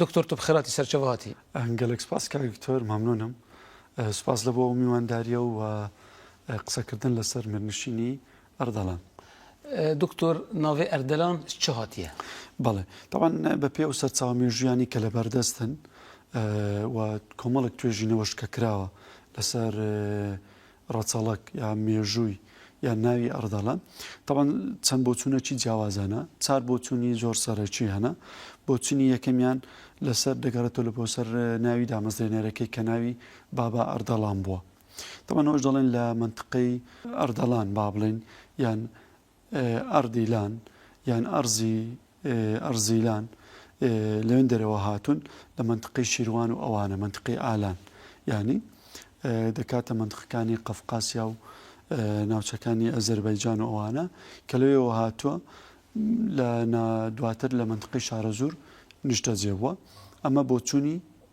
دکتۆر تۆ خێراتی سەرچەوە هاتی. گەلەک سپاس کاک دکتۆر مەمنونم سپاس لە بۆ میوانداریە و قسەکردن لەسەر میرنشینی ئەردەڵان. دکتۆر ناوی ئەردەلان ی چ هاتیە؟ بەڵێ تەبان بە پێ و سەرچاوە مێژویانی کە لە بەردەستن و کۆمەڵک توێژینەوەش کە کراوە لەسەر ڕەچەڵەک یا مێژووی یا ناوی ئەڕدەڵە تەبەن چەند بۆچونەکی جیاوازەنە چار بۆچونی زۆر سەرەکی هەنە بۆچنی یەکەمیان لەسەر دەگەڕێتەوە لە بۆ سەر ناوی دامەزرێنەرەکەی کە ناوی بابا ئەردەڵان بووە تەبەنەوەش دەڵێن لە منتقەی ئەردەڵان با بڵێن یان ئەردیلان یان ئەرزی ئەرزیلان لەوێن دەرەوە هاتوون لە مەنتقەی شیروان و ئەوانە مەنتقەی ئالان یانی دەکاتە مەنتقەکانی قەفقاسیا و ناوچەکانی ئەزەربایجان و ئەوانە کە لەوێەوە هاتووە لە دواتر لە مەنتقەی شارەزور نیشتەجێ بووە ئەمە بۆچوونی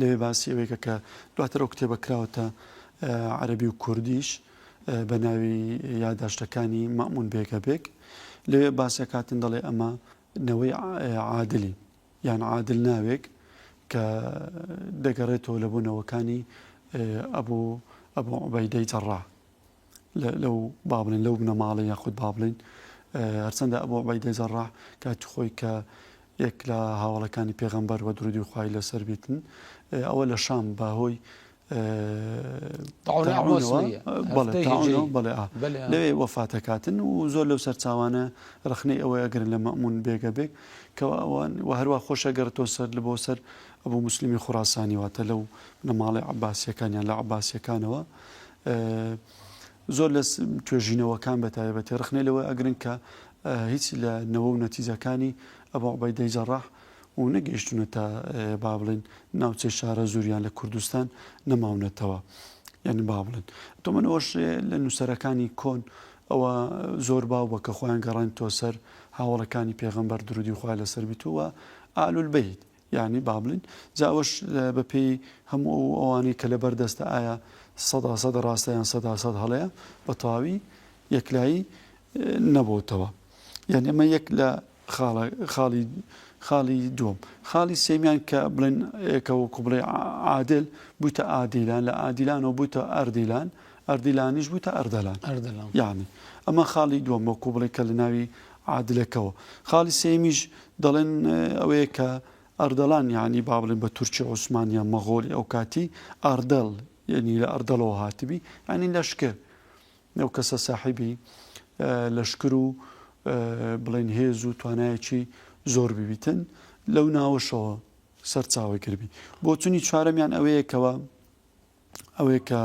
لەوێ باسی ئەوەی کە کە دواتر ئەو کتێبە کراوەتە عەربی و کوردیش بە ناوی یاداشتەکانی مەمون بێگە بێک لەوێ باسەکاتن دەڵێ ئەمە نەوەی عادلی یان عادل ناوێک کە دەگەڕێتەوە لە بۆ نەوەکانی ئەبوو ئەبوو عبەیدەی جەڕا لەو با بڵێن لەو بنەماڵە یاخود با بڵێن هەرچەندە ئەبوو عوبەیدە جەڕاح کاتی خۆی کە یەک لە هاوڵەکانی پێغەمبەر و درودی خوای لەسەر بیتن ئەوە لە شام بە هۆی لەوێ وەفاتەکاتن و زۆر لەو سەرچاوانە رخنەی ئەوە ئەگرن لە مەمون بێگە بێک کەەوە ئەوان و هەروە خۆشە گەڕتۆ سەر لە بۆ سەر ئەبوو مسللیمی خوراسانی واتە لەو نەماڵی عباسیەکانیان لە عباسیەکانەوە زۆر لە توێژینەوەکان بە تایبەتی ڕخنەی لەوە ئەگرن کە هیچ لە نەوە و نەتیجەکانی ئەبو عوبەیدەی جەڕاح و نەگەیشتوونەتە با بڵێن ناوچەی شارەزوور یان لە کوردستان نەماونەتەوە یان با بڵێن تۆمەنەوەش لە نووسەرەکانی کۆن ئەوە زۆر باو بە کە خۆیان گەڕان تۆ سەر هاوڵەکانی پێغەمبەر درودی خوا لەسەر بیتووە ئالول بیت یانی با بڵێین جا ئەوەش بە پێی هەموو ئەو ئەوانەی کە لەبەر دەستە ئایا سەدا سەد ڕاستە یان سەدا سەد هەڵەیە بە تەواوی یەکلایی نەبۆتەوە یان ئەمە یەک لە خاڵی خاڵی دوم خاڵی سێمیان کە بڵێن کە وەکو بڵێ عادل بوویتە ئادیلان لە ئادیلانەوە بوویتە ئەردیلان ئەردیلانیش بوویتە ئەردەلان ئەردەلان یعنی ئەمە خاڵی دوم وەکو بڵێ کە لە ناوی عادلەکەوە. خاڵی سێیەمیش دەڵێن ئەوەیە کە ئەردەڵان یانی با بڵێن بە تورکی عوسمان یان مەغۆلی ئەوکاتی ئاردەڵ یانی لە ئەردەڵەوە هاتبی یانی لەشکر ئەو کەسە ساحیبی لەشکر و بڵێن هێز و توانایەکی زۆر ببیتن لەو ناوەشەوە سەرچاوەگربی بۆچونی چوارەمیان ئەوەیە کەەوە ئەوەی کە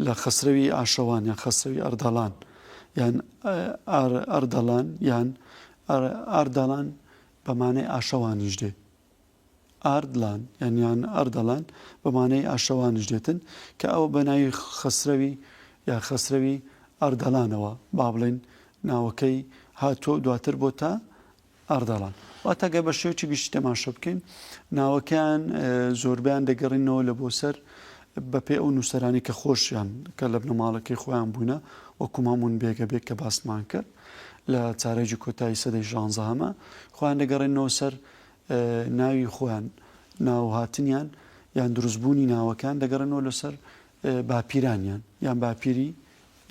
لە خەسرەوی ئاشەوان یان خەسرەوی ئەردەڵان یان ئەردەڵان یان ئاردەڵان بەمانەی ئاشەوانیش دێت ئاردلان یانیان ئەردەڵان بەمانەی ئاشەوانیش دێتن کە ئەوە بە ناوی خەسرەوی یا خەسرەوی ئاردەڵانەوە با بڵێن ناوەکەی هاتۆ دواتر بۆ تا ئەردەڵان، واتە گەر بە شێوەیەکی گشتی تەماشا بکەین ناوەکەیان زۆربەیان دەگەڕینەوە لە بۆ سەر بە پێ ئەو نووسەرانی کە خۆشیان کە لە بنەماڵەکەی خۆیان بوونە وەکو مامون بێگە بێک کە باسمان کرد لە چارێکی کۆتایی سەدەی ژانزە هەمە خۆیان دەگەڕێنەوە سەر ناوی خۆیان ناوهاتنیان یان دروستبوونی ناوەکان دەگەڕێنەوە لەسەر باپیرانیان یان باپیری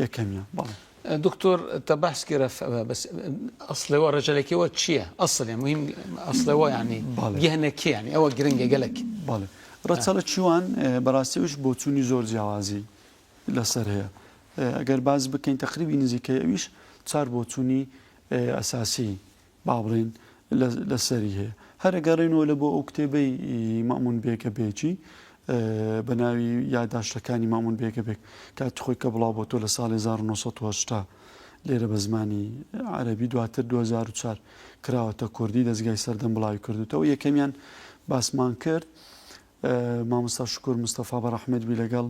یەکەمیان بەڵێ. دکتۆر تە بەحس کرە بەس ئەسڵەوە ڕێژەلەکەوە چییە؟ ئەسڵێ مهم ئەسڵەوە ینی بەڵێ. گەهنەکە ینی ئەوە گرنگە گەلەک بەڵێ ڕەچەڵە چیوان اه، بەڕاستیش بۆچوونی زۆر جیاوازی لەسەر هەیە اه، ئەگەر باس بکەین تەقریبی نزیکەی ئەویش چار بۆچوونی اه، ئەساسی با بڵێین لە سەری هەیە. هەر ئەگەڕێینەوە لە بۆ ئەو کتێبەی مەئموون بێگە بێگی بە ناوی یاداشتەکانی مەئموون بێگە بێگ کاتی خۆی کە بڵاو بۆتۆ لە ساڵی 1970 لێرە بە زمانی عەرەبی دواتر 2004 کراوەتە کوردی دەستگای سەردەم بڵاوی کردوتەوە یەکەمیان باسمان کرد مامۆستا شکر مستەفا بە ڕەحمەت بی لەگەڵ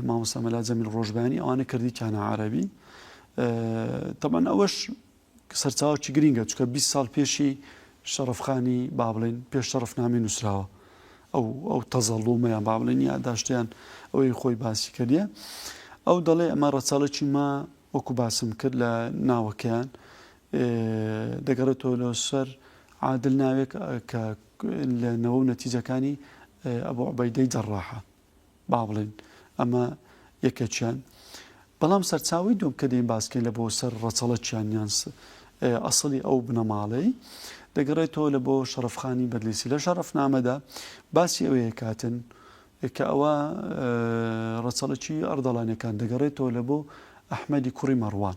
مامۆستا مەلا جەمیل ڕۆژبانی ئەوانە کردی کانە عەرەبی تەبەن ئەوەش سەرچاوەکی گرینگە چونکە بیست ساڵ پێشی شەڕەفخانی با بڵێین پێش شەڕەفنامەی نووسراوە ئەو ئەو تەزەڵومەیان با بڵێن یاداشتیان ئەوەی خۆی باسی کردە ئەو دەڵێ ئەمە ڕەچەڵەکی ما وەکو باسم کرد لە ناوەکەیان دەگەڕێتەوە لە سەر عادل ناوێک کە لە نەوە و نەتیجەکانی ئەبوو عبەیدەی جەڕاحە با بڵێن ئەمە یەکێکیان بەڵام سەرچاوی دوم کە دەین باسکەین لە بۆ سەر ڕەچەڵەکیان یان ئەسڵی ئەو بنەماڵەی دەگەڕێتەوە لە بۆ شەرفخانی بەدلیسی لە شەرفنامەدا باسی ئەوەیە کاتن کە ئەوە ڕەچەڵکی ئەردەڵانەکان دەگەڕێتەوە لە بۆ ئەحمەدی کوڕی مەڕوان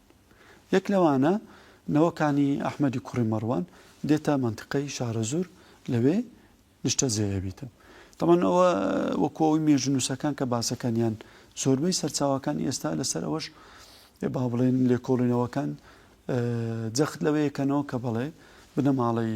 یەک لەوانە نەوەکانی ئەحمەدی کوڕی مەڕوان دێتە مەنتقەی شارەزوور لەوێ نیشتەجێ ئەبیتن تەمان ئەوە وەکو ئەوی مێژنووسەکان کە باسەکانیان زۆربەی سەرچاوەکانی ئێستا لەسەر ئەوەش با بڵێن لێکۆڵینەوەکان جەخت لەوەیەکەنەوە کە بڵێ بنەماڵی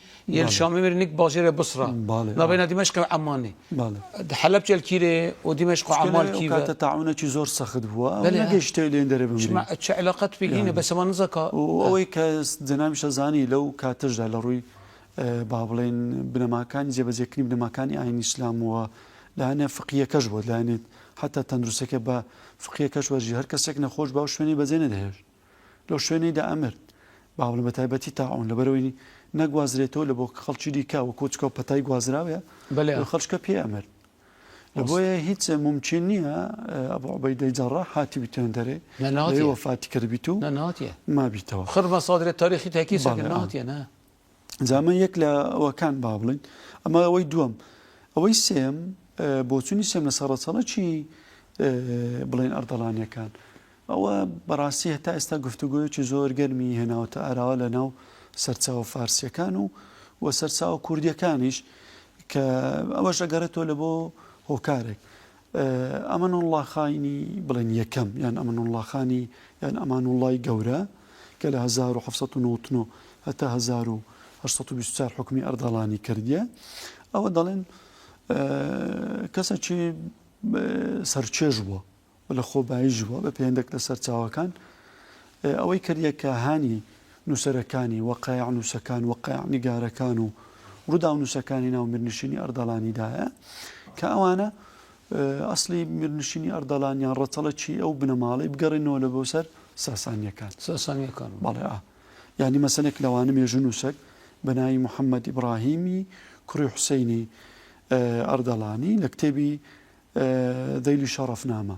یەل شامی میر نیک باژێرێ بسڕە باڵێ نا بەینا دیمەشق و عەمانی باڵێ دە حەلەب چێل کیرێ و دیمەشق و عەمان کیرێ ئەو کاتە تاعونەکی زۆر سەخت بووە ئەو نەگەیشتە لێن دەرێ بمرین چما چ علاقە توی هینە بەس ئەوە نزەکا و ئەوەی کە جەنابیشە زانی لەو کاتەشدا لە ڕووی با بڵێین بنەماکانی جێبەجێکردنی بنەماکانی ئاینی ئیسلام و لایەنە فقیەکەش بۆ لایەنێت حتا تەندروستەکە بە فقیەکەش وەرژی هەر کەسێک نەخۆش باو شوێنی بەجێ نەدەهێشت لەو شوێنەی دا ئەمرد. باوەڵم بە تایبەتی تاعون لەبەرئەوەی نەگوازرێتەوە لە بۆ خەڵکی دیکە وە کۆچکە و پەتای گوازراوێ لە خەڵکە پێ ئەمرد. لە بۆیە هیچ مومکین نییە ئەبو عوبەیدەی جەڕاح هاتبیتە هێندە رێ لەوێ وەفاتی کردبیت و مابیتەوە. خڕ مەسادرێ تاریخی تاکی سەکن ناتیە نا. جا ئەمە یەک لە ئەوەکان با بڵێین ئەمە ئەوەی دووەم ئەوەی سێم بۆچوونی سێم لەسەر ڕەچەڵەکی بڵێن ئەردەڵانیەکان ئەوە بەڕاستی هەتا ئێستا گفتوگوۆیەکی زۆر گەرمی هێناوتە ئاراوە لە ناو سەرچاوە فارسیەکان و و سەرچاوە کوردیەکانیش کە ئەوەش ئەگەڕێتەوە لە بۆ هۆکارێک ئەمەنوڵڵا خانی بڵێن یەکەم یان ئەمەنوڵڵا خانی یان ئەمانوڵڵای گەورە کە لە هەزار و حەفت سەد و نەوەت و نۆ هەتا هەزار و هەشت سەد و بیست و چوار حوکمی ئەردەڵانی کردیە ئەوە دەڵێن کەسەکی سەرچێژ بووە و لە خۆباییش بووە بە پێندێک لە سەرچاوەکان ئەوەی کە یەکە هانی نووسەرەکانی، وەقایعنووسەکان، وەقایعنیگارەکان و ڕووداونووسەکانی ناو میرنشینی ئەردەڵانی دایە، کە ئەوانە ئەسڵی میرنشینی ئەردەڵان یان ڕەچەڵەکی ئەو بنەماڵەی بگەڕێنەوە لە بۆ سەر ساسانیەکان ساسانیەکان بەڵێ ئا یانی مەسەنێک لەوانە مێژوو نووسەک بەناوی محەممەد ئیبراهیمی کوڕی حوسینی ئەردەڵانی لە کتێبی دەیلی شەڕەفنامە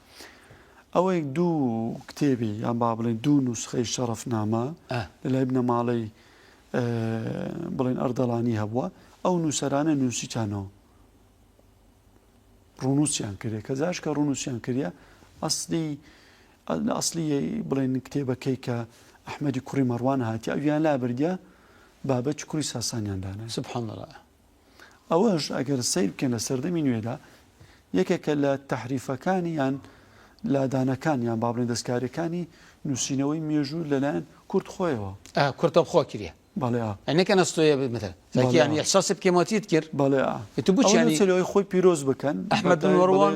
ئەوەی دوو کتێبی یان با بڵێن دوو نووسخەی شەڕەفنامە لەلای بنەماڵەی بڵێن ئەردەڵانی هەبووە ئەو نووسەرانە نووسیتانەوە ڕونووسیان کرێ کە جاش کە ڕونووسیان کردە ئەسلی ئەسلی بڵێن کتێبەکەی کە ئەحمەدی کوڕی مەڕوان هاتی ئەویان لا بردە بابەت کوڕی ساسانیان دانا سبحان ئەوەش ئەگەر سەیر بکەن لە سەردەمی نوێدا یەکێکە لە تحریفەکانی یان لادانەکان یان بابلێن دەستکاریەکانی نووسینەوەی مێژوو لەلایەن کورد خۆیەوە کورتە خۆ کرێ بەڵێنەکە نستۆیە بمەتەکیانی احساسی بکەمەوەتیت کرد بەڵێ تو بچیانی خۆی پیرۆز بکەن ئەحمەدوەڕوان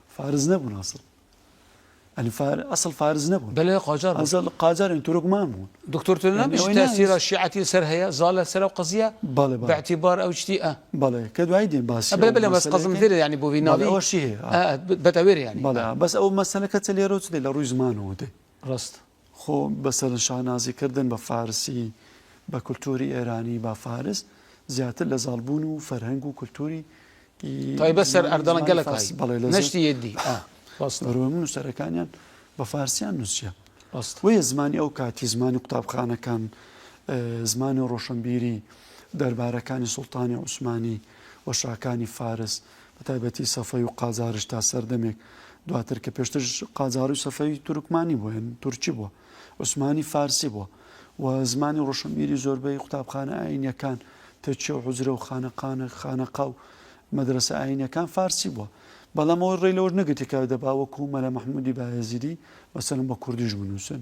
فارس نەبوون ئەسڵ ئەنی فار ئەسڵ فارس نەبوون بەلێ قاجار بوون. ئەسڵ قاجارن تورکمان بوون دکتۆر تۆ یعنی نابیش ئەوەی ناویست. تەسیرە شیعەتی سەر هەیە زالە سەر ئەو قەزیە بەڵێ بە بەڵێ اعتیبار ئەو شتی ئە بەڵێ کە دوایی دێن باسی بەلێ ئەو بەلێ بەس قەزم مەسەلەکەین دێرێ یانی بۆ وی بەڵێ ناوی ئەوەشی هەیە ئە ئە بە تەوێر یانی ئە بەڵێ بەس ئەو مەسەلەکە چە لێرەوە چ دێ لە ڕووی زمانەوە دێ ڕاست. خۆ بەسەر شانازی کردن بە فارسی، بە کولتووری ئێرانی با فارس زیاتر لە زاڵ بوون و فەرهەنگ و کولتووری تایبەت سەر ئەردەڵە گەلە فارسی بەڵێ لە نەشتی یەدی بەڕۆ من نووسەرەکانیان بە فارسیان نووسیە وەیە زمانی ئەو کاتی زمانی قوتابخانەکان زمانی و ڕۆشنبیری دەربارەکانی سوڵتانی عوسمانی و شاکانی فارس بە تایبەتی سەفەوی و قاجاریش تا سەردەمێک دواتر کە پێشترش قاجاری و سەفەوی تورکمانی بووە یان تورکی بووە عوسمانی فارسی بووە و زمانی ڕۆشنبیری زۆربەی قوتابخانە ئاینیەکان تەکیە و حوجرە و خانەقانە خانەقا و مەدرسە ئاینەکان فارسی بووە بەڵام ئەوەی ڕێ لەوەش نەگرتی کە دەبا وەکو مەلا مححمودی باێزیدی مەسەن بە کوردیش بنووسن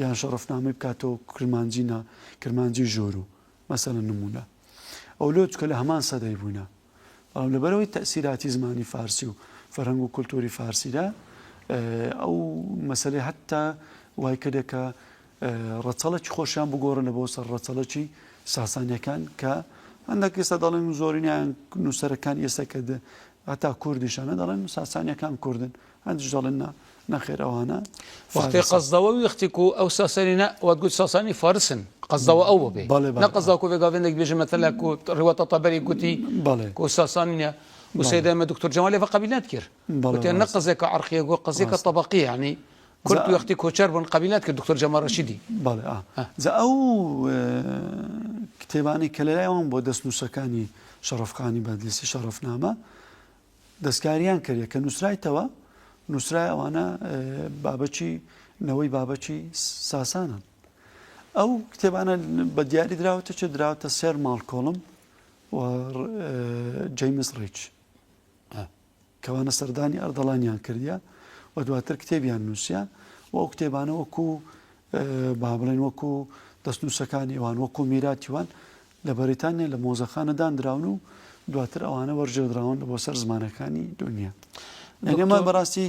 یان شەڕفنامی بکاتەوە کرمانجی نا کرمانجی ژۆرو مەسەن نمونە ئەو لۆچکە لە هەمان سەدەی بووینە بەڵام لەبەرەوەی تەئسیراتی زمانی فارسی و فەرهەنگ و کولتووری فارسیدا ئەو مەسەلەی هەتا وای کردە کە ڕەچەڵەکی خۆشیان بگۆڕنە بۆ سەر ڕەچەڵەکی ساسانیەکان کە هەندێک ئێستا دەڵێن زۆرینیان نووسەرەکان ئێستا کە هەتا کوردیشانە دەڵێن ساسانیەکان کوردن هەندیش دەڵێن نا، نەخێر ئەوانە وەختی فارسن. قەزدەوە ویختی کو ئەو ساسانی نە وەت گوت ساسانی فارسن قەزدەوە ئەو بێ بەڵێ، بەڵێ، نە بەڵێ. قەزاکۆ بێ گاڤێن دەک بێژە مەتەلا کو ڕواتە تەبەری گوتی بەڵێ. کو ساسانی نە و بەڵێ. سەیدە ئێمە دکتۆر جەمالی ڤە قەبیل نەت کرد بەڵێ، وتیان نە ڕاستە. قەزێکە عەڕقیە گو قەزێکە ڕاستە. تەبەقیە یەعنی کورد جا- وەختی کۆچەر بوون قەبیل نەت کرد دکتۆر جەمال ڕەشیدی. بەڵێ ئا ها. جا ئەو ە، کتێبانەی کە لەلای وان بووە دەستنووسەکانی شەڕەفخانی بەدلیسی شەڕەفنامە دەستکاریان کردێ کە نووسرایتەوە نووسرای ئەوانە بابەچی نەوەی بابەچی ساسانن ئەو کتێبانە بە دیاری دراوەتە چ دراوتە سێر ماڵکۆڵم و جەیمس ڕیچ کەوانە سەردانی ئەردەڵانیان کردیا و دواتر کتێبیان نووسە و ئەو کتێبانە وەکو با بڵێن وەکو دەستنووسەکانی ئەوان وەکو میراتیوان لە بەریتانیا لە مۆزەخانە داندراون و دواتر ئەوانە وەرجێدراون بۆ سەر زمانەکانی دنیا لەگەمە بەڕاستی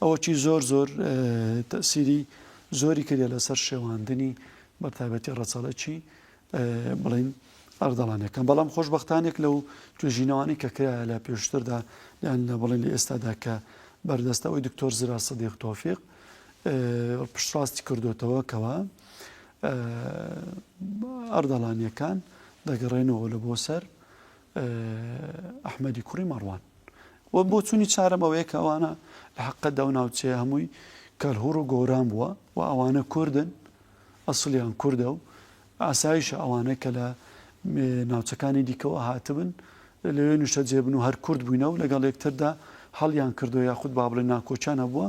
ئەوەی زۆر زۆر تەسیری زۆری کردە لەسەر شێواندنی بەتابەتی ڕەچەڵەکی بڵین ئەردەڵانەکەم بەڵام خۆشببختانێک لەو توێژینەوانی کە کرا لە پێشتردا یان لە بڵێن لە ئێستادا کە بەردەستەوەی دکتۆر زرا سەدیق تۆفیق پشتڕاستی کردوێتەوە کەەوە ئەردەڵانیەکان دەگەڕێنەوە لە بۆ سەر ئەحمەدی کوڕی مەڕوان و بۆ چونی چارم ئەوەیە کە ئەوانە لە حقە داو ناوچێ هەمووی کەلهوڕ و گۆران بووە و ئەوانە کوردن ئەسلیان کووردە و ئاسایشە ئەوانە کە لە ناوچەکانی دیکەوە هاتبن لەوێ نوشتە جێبن و هەر کورد بووینە و لەگەڵ یەکتردا هەڵیان کردو یاخود بابلێ ناکۆچیان هەبووە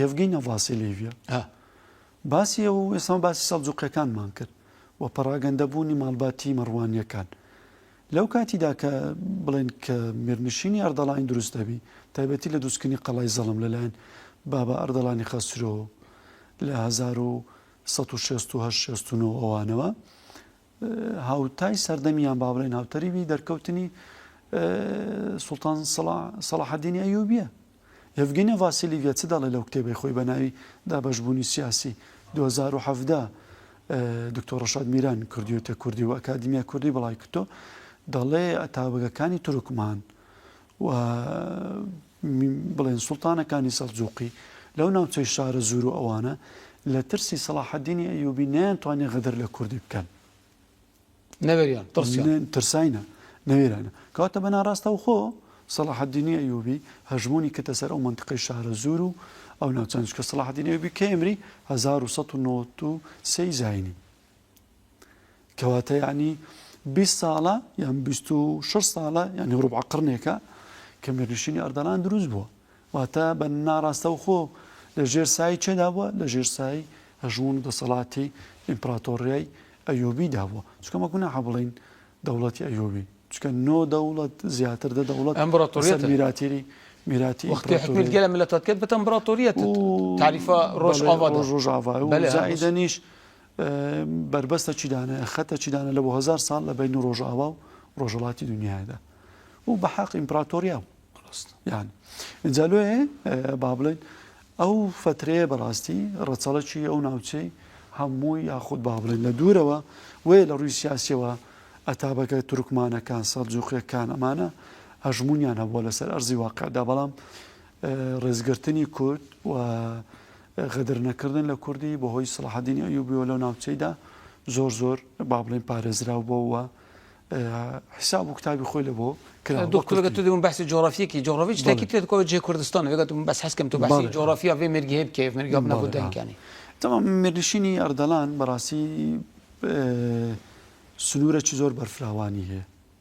یەڤگینە ڤاسیلیڤیا ئە باسی ئەوە و ئێستا باسی سەڵجووقیەکانمان کرد و پەڕاگەندەبوونی ماڵباتی مەڕوانیەکان لەو کاتیدا کە بڵێن کە میرنشینی ئەردەڵانی دروست دەبی تایبەتی لە دووسکردنی قەڵای زەڵم لەلایەن بابا ئەردەڵانی خەسرۆ لە 1960 ئەوانەوە هاوتای سەردەمیان با بڵێین هاوتەریبی دەرکەوتنی سوڵتان سەڵاحەدینی ئەیوبیە یڤگینە ڤاسیلیڤە چ دەڵێ لەو کتێبی خۆی بە ناوی دابەشبوونی سیاسی 2017 دکتۆر ڕشاد میران کردیوتە کوردی و ئەکادیمیا کوردی بڵای کردۆ دەڵێ ئەتاوەگەکانی تورکمان و بڵێن سوڵتانەکانی سەلجووقی لەو ناوچەی شارەزوور و ئەوانە لە ترسی سەڵاحەدینی ئەیووبی نەیانتوانی غەدر لە کوردی بکەن. نەوێریان ترسیان. ترساینە نەوێرانە. کەواتە بە ناڕاستەوخۆ سەڵاحەدینی ئەیووبی هەژموونی کردە سەر ئەو مەنتقەی شارەزوور و ئەو ناوچانە، چونکە سەڵاحەدینی ئەیووبی کەی ئەمری هەزار و سەد و نەوەد و سێ ی زاینی. کەواتە یانی بیست ساڵە یان بیست و شەش ساڵە یانی ڕوبعە قڕنێکە کە میرنشینی ئەردەڵان دروست بووە واتە بە ناڕاستەوخۆ لە ژێر سایی چێدا بووە لە ژێر سایی هەژمون دەسەڵاتی ئیمپراتۆریای ئەیۆبی دابووە چکەمە گوناحە بڵین دەوڵەتی ئەیۆبی چکە نۆ دەوڵەت زیاتر دە دەوڵەت ئەمبراتۆریەت میراتێری میراتی وەختی حکومت گەلە ملەتەت کرد بەتە ئەمبراتۆریەت تاریفە ڕۆژ ڕۆژ ڕۆژاڤ زائیدەنیش بەربەستە چیدانەیە خەتە چیدانە لە بۆ هزار ساڵ لە بینی ڕۆژاوا و ڕۆژەڵاتی دنیادا و بە حەق ئیمپراتۆریا یان اینجا لێ با بڵێن ئەو فترەیە بەڕاستی ڕەچەڵەکی ئەو ناوچەی هەموو یاخود با بڵێن لە دوورەوە وێ لە ڕووی سیاسەوە ئەتابەکە تورکمانەکان سەرجوخێکان ئەمانە هەژمونیان هەبووە لەسەر ئەرزی واقعدا بەڵام ڕێزگرتنی کورد و غەدرنەکردن لە کوردی بەهۆی سەڵاحەدینی ئەیوبیەوە لەو ناوچەیدا زۆر زۆر با بڵێین پارێزراو بۆ و حساب و کتابی خۆی لە بۆ کرا دکتۆرگە تو دەبوون بەسی جۆرافیەکی جۆڕۆڤچ تاکی تێت کۆ جێ کوردستان وێگەتم بەس حەسکەم تو باسی جۆرافیا بێ مێرگی هەیە بکەێت مێرگا بنەبوو دەنگانی تەمام مێرنشینی ئەردەڵان بەڕاستی سنوورەکی زۆر بەرفراوانی هەیە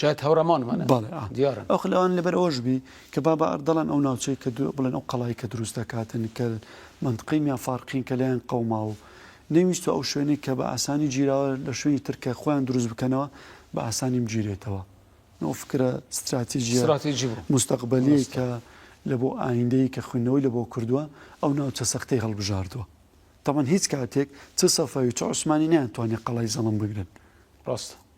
شایەد هاوڕێمانمانن بەڵێ ئا دیارن. ئەخ لەوان لەبەر ئەوەش بی کە با بە ئەردەڵان ئەو ناوچەی کە دو بڵێن ئەو قەڵای کە دروست دەکاتن کە مەنتقەی میا فارقین کە لێیان قەوماو و نەیویستوە ئەو شوێنەی کە بە ئاسانی گیراوە لە شوێنی تر کە خۆیان دروست بکەنەوە بە ئاسانی بگیرێتەوە ئەو فکرە ستراتیجیە ستراتیجی بوو موستەقبەلیەی ڕاستە کە لە بۆ ئایندەیی کە خویندنەوەی لە بۆ کردوە ئەو ناوچە سەختەی هەڵبژاردوە تەبعەن هیچ کاتێک چ سەفەوی چ عوسمانی نەیان توانیە قەڵای زەڵم بگرن. ڕاستە.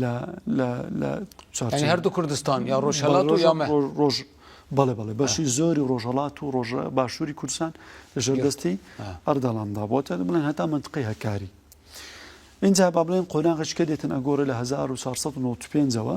لە لە لە چوارچێوەی یانی هەردوو کوردستان یا ڕۆژهەڵات و یا مە ڕۆژ بەڵێ بەڵێ بەشی زۆری ڕۆژهەڵات و ڕۆژە باشووری کوردستان لەژێر دەستی ئەردەڵاندا بۆ تا بڵێن هەتا منتقی هەکاری اینجا با بڵێن قۆناغش کە دێتن ئەگۆڕێ لە 1995ەوە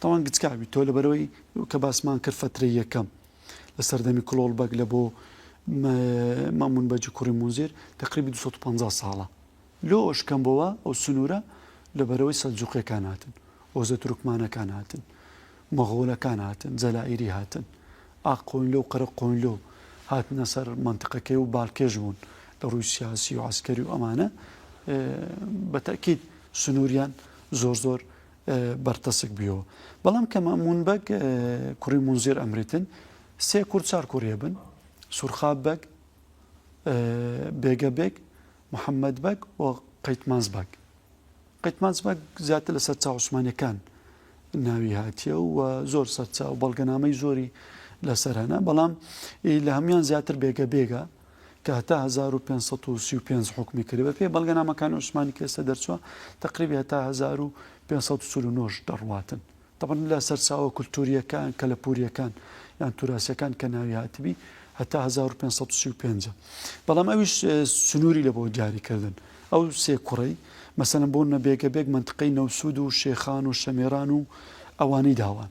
تاوان گچکە بی تۆ لەبەرەوەی کە باسمان کرد فەترەی یەکەم لە سەردەمی کلۆڵ بەگ لە بۆ مامون بەجی کوڕی مونزیر تقریبی 250 ساڵە لۆ ئەوش کەم بۆوە ئەو سنوورە لە بەرەوەی سەلجوقیەکان هاتن ئۆزە تورکمانەکان هاتن مەغۆلەکان هاتن جەلائیری هاتن ئاق قۆینلۆ و قەرە قۆینلۆ هاتنە سەر منتقەکەی و بالکێش بوون لە ڕووی سیاسی و عسکەری و ئەمانە بەتەکیید سنووریان زۆر زۆر بەرتەسک بیەوە بەڵام کە مەئموون بەگ کوڕی مونزیر ئەمریتن سێ کور چار کوڕیە بن سورخاب بەگ بێگە بێگ محەممەد بەگ و قەیتمانز بەگ قەیتمانز بەگ زیاتر لە سەر چاوسمانەکان ناوی هاتیە و زۆر سەرچاو بەڵگەنامەی زۆری لەسەر هەنا بەڵام لە هەموان زیاتر بێگە بێگە کە هەتا هەزار و پێنج سەد و سی و پێنج حوکمی کردی بە پێی بەڵگەنامەکانی عوسمانی کە ئێستا دەرچووە تەقریبی هەتا هەزار و پێنج سەد و چل و نۆش دەڕواتن تەبەن لە سەرچاوە کولتووریەکان کەلەپوریەکان یان توراسیەکان کە ناوی هاتبی هەتا 1535 بەڵام ئەویش سنووری لە بۆ دیاریکردن ئەو سێ کوڕی مەسەن بۆ نەبێگە بێک منتقەی نەوسود و شێخان و شەمێران و ئەوانی داوان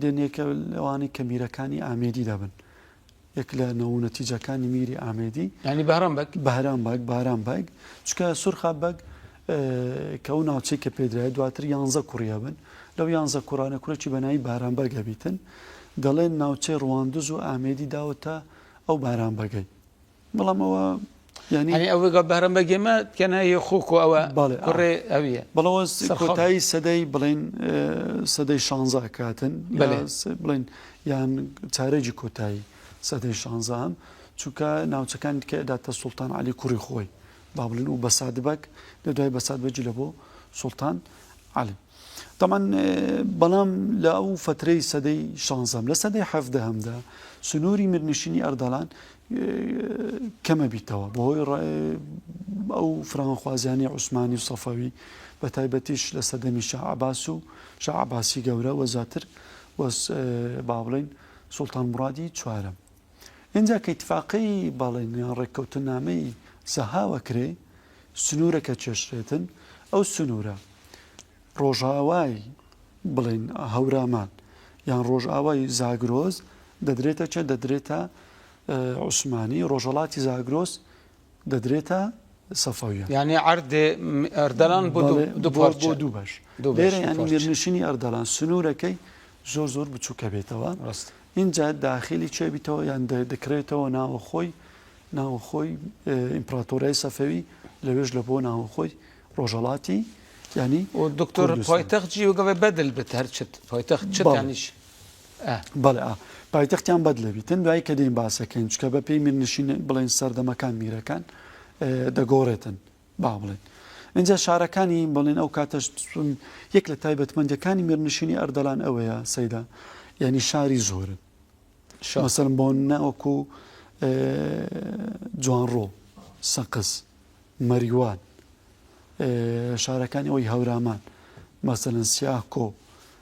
دێنێکە لەوانەی کە میرەکانی ئامێدیدا بن. یەک لە نەوونەتیجەکانی میری ئامێدی یعنی بەهرام بەگ بەهرام بەگ بارام بەگ چکە سورخا بەگ کە ئەو ناوچەی کە پێدرای دواتر یانزە کوڕی هەبن لەو یانزە کوڕانە کورێکی بەنایی باران بەگ هەبیتن دەڵێن ناوچەی ڕواندز و ئامێدی داوەتە ئەو باران بەگەی بەڵام ئەوە یانی ئەنی ئەوە گە بەرە بەگێمە تکەنای خوکو ئەوە کوڕێ ئەویە بەڵەوە کۆتایی سەدەی بڵین سەدەی شانزا کاتن بڵین یان چارێکی کۆتایی سەدەی شانزان چونکە ناوچەکان دیکە داتە سوڵتان علی کوڕی خۆی با بڵین و بەسادبک لە دوای بەسادبەجی لە بۆ سوڵتان علی تەبعەن بەڵام لە ئەو فەترەی سەدەی شانزەم لە سەدەی حەفدەهەمدا سنووری میرنشینی ئەردەڵان کەمە بیتەوە بەهۆی ئەو فرانخوازیانی عوسمانی و سەفەوی بە تایبەتیش لە سەدەمی شعباس و شعباسی گەورە وە زیاتر وەس با بڵین سوڵتان مڕادی چوارم ئینجا کە ئیتفاقەی بەڵێن یان ڕێککەوتننامەی سەهاوە کرێ، سنوورەکە کێشرێتن، ئەو سنوورە ڕۆژاوای بڵێن هەورامان یان ڕۆژاوای زاگرۆز دەدرێتە چە دەدرێتە عوسمانی ڕۆژەڵاتی زاگرۆس دەدرێتە سەفەویە. یانی عەردێ ئەردەلان بۆ دوو بەڵێ دوو بۆ پارچە بۆ دوو بەش دوو بەش لێرە دوو یانی پارچە میرنشینی ئەردەڵان سنوورەکەی زۆر زۆر بچووکە بێتەوە ڕاستە ئینجا داخیلی چێ بیتەوە یان دە- دەکرێتەوە ناوەخۆی ناوەخۆی اه، ئیمپراتۆریای سەفەوی لەوێش لە بۆ ناوەخۆی ڕۆژەڵاتی یانی و دکتۆر کوردستان. پایتەخت جی وگەڵێ بەدل بت هەر چت پایتەخت چت بەڵێ. یانیش ئە. بەڵێ ئا. پایتەختیان بەدلە بیتن دوایی کە دێین باسەکەین چکە بە پێی میرنشین بڵێین سەردەمەکان میرەکان دەگۆڕێتن با بڵێن ئینجا شارەکانی بڵێن ئەو کاتەش چون یەک لە تایبەتمەندەکانی میرنشینی ئەردەلان ئەوەیە سەیدا یعنی شاری زۆرن شاسەرم بۆ نەوەکو جوانڕۆ سەقز مەریوان شارەکانی ئەوی هەورامان مەسەن سیاکۆ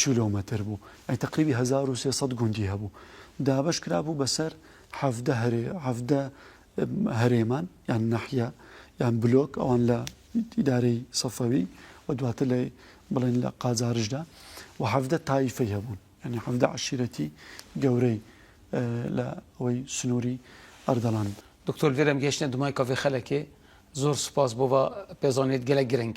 کیلۆمەتر بوو، ئەی تەقریبی هەزار و سێ سەد گوندی هەبوو، دابەش کرابوو بەسەر حەڤدە هەرێ حەڤدە هەرێمان یان ناحیە یان بلۆک ئەوان لە ئیدارەی سەفەوی و دواتر لە بڵێن لە قاجاریشدا و حەڤدە تایفەی هەبوون یانی حەڤدە عەشیرەتی گەورەی لە ئەوەی سنووری ئەردەڵان دکتۆر گرم گەشتە دومای کافێ خەلەکێ زۆر سوپاس بۆ ڤە پێزانێت گەلەک گرنگ